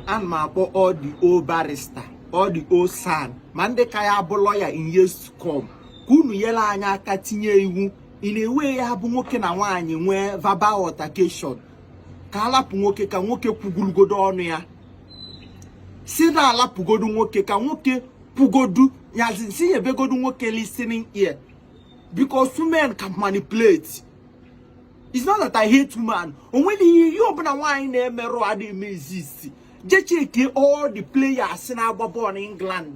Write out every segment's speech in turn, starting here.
ana m akpọ all the old barrister all the old san ma ndị ka ya-abụ lọya in years to come ka unu nyere anyị aka tinye iwu in a way ya-abụ nwoke na nwaanyị nwee verbal altercation ka alapụ nwoke ka nwoke kwugorogodo ọnụ ya si na alapụgodu nwoke ka nwoke kwugodu nyazi si nyebegodu nwoke listening ear because women can manipulate it's not that I hate woman onweghị ihe ihe ọbụla nwaanyị na-emerụ adịghị eme exist je chekie all the players na-agba bọọlụ n'England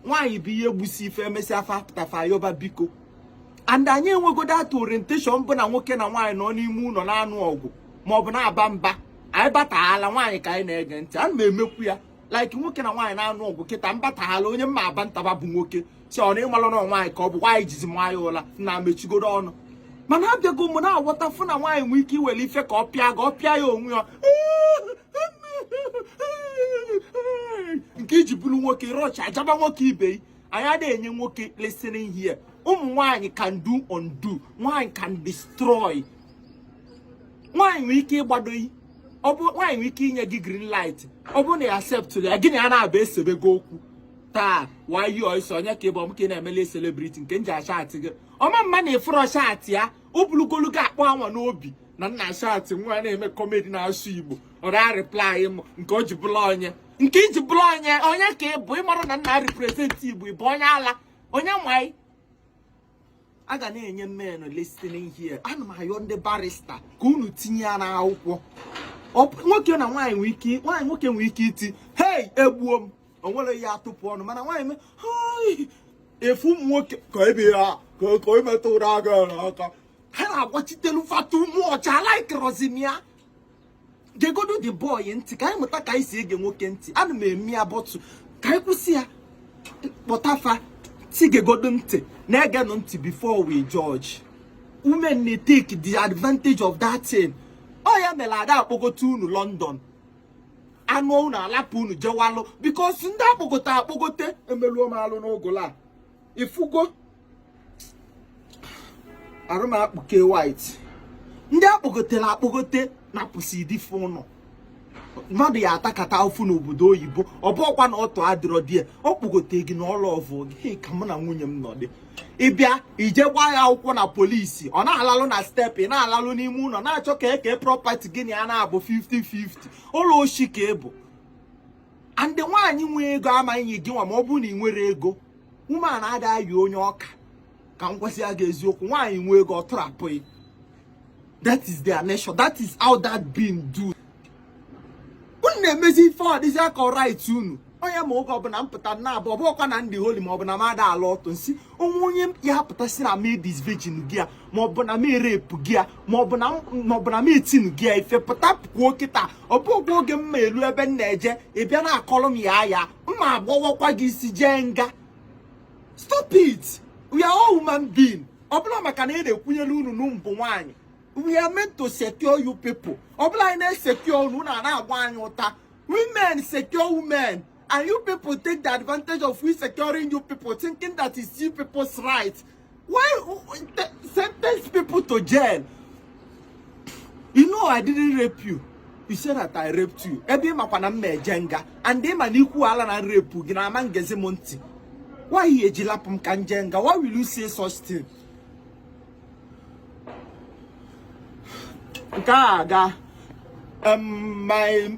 nwaanyị bụ ihe gbusiri fa emesịa fa pụta fa yọba biko and anyị enwego that orientation bụ na nwoke na nwaanyị nọ n'ime ụlọ na-anụ ọgụ maọbụ na-aba mba anyị bataala nwaanyị ka anyị na-ege ntị ana m emekwu ya like nwoke na nwaanyị na-anụ ọgụ kịta m batahala onye m ma-abanta mba bụ nwoke si ọ na ịmalụ na nwaanyị ka ọ bụ why i jizi maa ya ụla nna mechigodu ọnụ mana abịago m na-aghọta fụ na nwaanyị nwee ike iwere ife ka ọ pịa gị ọ pịa ya onwe ya nke iji bụrụ nwoke ị rush ajaba nwoke ibe anyị adịghị enye nwoke listening ear ụmụ nwanyị can do undo nwanyị can destroy nwanyị nwere ike ịgbado gị nwanyị nwere ike inye gị green light ọ bụrụ na ya accept ya gị na ya na-abụ esebe gị okwu taa who are you sef onye ka ị bụ ọ m ka ị na-emele celebrity nke m ji achatị gị ọ mama na ịfụrọ chatị ya o bulugolu gị akpọ anwa n'obi na nna achatị m nwa na-eme kọmedi na-asụ igbo ọ da-arịplai m nke o ji bụla onye nke iji bụrụ onye onye ka ị bụ ịmarọ na m na-represent igbo ịbụ onye ala onye nwanyị a ga na-enye men listening ear ana m ayọ ndị barista ka unu tinye ya n'akwụkwọ nwoke na nwaanyị nwere ike nwaanyị nwoke nwere ike iti hei egbuo m onwerọ onye ya-atụpụ ọnụ mana nwaanyị mee ịfụ ụmụ nwoke ka ebe ya ka o metụrụ aga n'aka ha na-agbachitere fa too much alaikrọzi m ya gegodu the boy ntị ka anyị mụta ka anyị si ege nwoke ntị ana m eme ya but ka anyị kwụsị ya kpọta fa si gegodu ntị na-egenụ ntị before we judge women may take the advantage of that thing ọ ya mere ada akpọgote unu London anụọ unu alapụ unu jewalụ because ndị akpọgote akpọgote emeluo m alụ n'ụgụla ifugo arụ m akpụke white ndị akpọgotere akpọgote napụsị di fa ụlọ mmadụ ya-atakata ụfụ n'obodo oyibo ọ bụọkwa na ọtụ adịrọ there ọ kpọgote gị na ọ lọvụ gị ka mụ na nwunye m nọdị ịbịa ije gbaa ya akwụkwọ na polisi ọ na-alalụ na step ị na-alalụ n'ime ụlọ na-achọ ka e kee prọpati gị na ya na-abụ 50-50 ụlọ oshi ka ị bụ and nwaanyị nwee ego amaghị enye gị nwa ma ọ bụ na ị nwere ego woman ada ayị onye ọ ka ka m gwasịa gị eziokwu nwaanyị nwee ego ọ tụrapụ gị that is their nature that is how that being do unu na-emezi ife ọ dịzịa ka right unu onye ma oge ọbụla m pụta na abụ ọ bụkwa na ndị holy ma ọ bụ na m ada ala ọtụ nsi ọ nwee onye ya-apụta sị na m edisvirgin go ya ma ọ bụ na m erape go ya ma ọ bụ na m etinye go ya ife pụta pụkwuo kịta ọ bụghị oge m ma elu ebe m na-eje ị bịa na-akọrọ m ya ya m ma-agbawakwa gị isi jee nga stop it we are all human being ọ bụla maka na ị na-ekwunyere unu na unu bụ nwaanyị we are meant to secure you people ọ bụla anyị na-esecure unu unu ana-agba anyị ụta women secure women And you people take the advantage of we securing you people, thinking that it's you people's right. Why sentence people to jail? You know I didn't rape you. You said that I raped you. Ebe ị makwa na m na-eje nga and ị ma na ị kwuola na rape gị na a ma-egezi m ntị. Why ị ya-eji lapụ m ka m jee nga? Why will you say such thing? Nke a aga um, my